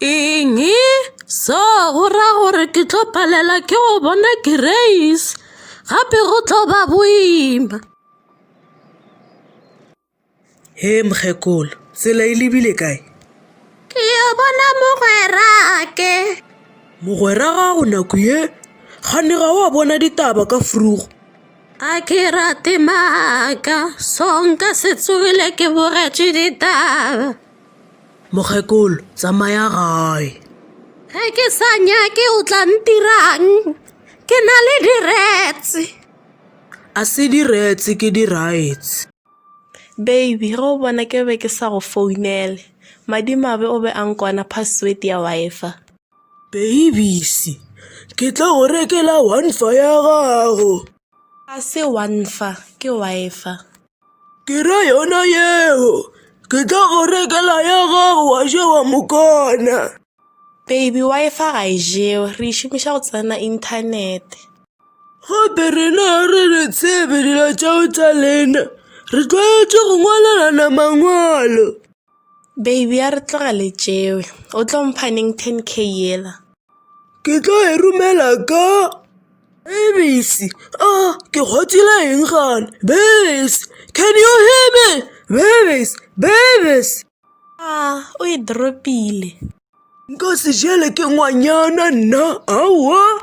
Eng? So go ra gore ke tlo palela ke go bona Grace gape go tlo ba boima. He mokgekolo, tsela e lebile kae? Ke yo bona mogwerake. Mogwera gago nako ye gane ga wa bona ditaba ka frugo. A ke rate maaka so nka se tsogile ke bogetše ditaba. Mokgekolo, tsamaya gae. Ge ke sa nyake o tla ntirang? Ke na le diretse. A se diretse ke diraits. Baby, ge o bona ke be ke sa go founele. Madimabe o be a nkwana password ya Wi-Fi. Babies, ke tlo go rekela Wi-Fi ya gago. A se Wi-Fi, ke Wi-Fi. ke ra yona yeo ke tla go rekela ya gago wa ja wa mokana baby Wi-Fi ga e jewe re e šomiša go tsena inthanete gape rena ga re re tsebe dilo tšeo tša lena re tlwaetše go ngwalelana mangwalo Baby a re tloga le tšewe. O tlo mpha neng 10k yela? Ke tlo e romela ka Bebisi. Ah, ke kgotsile eng gane? Bebisi, can you hear me? Bebisi, Bebisi. Ah, o e dropile. Nka se jele ke ngwanyana nna, aowa.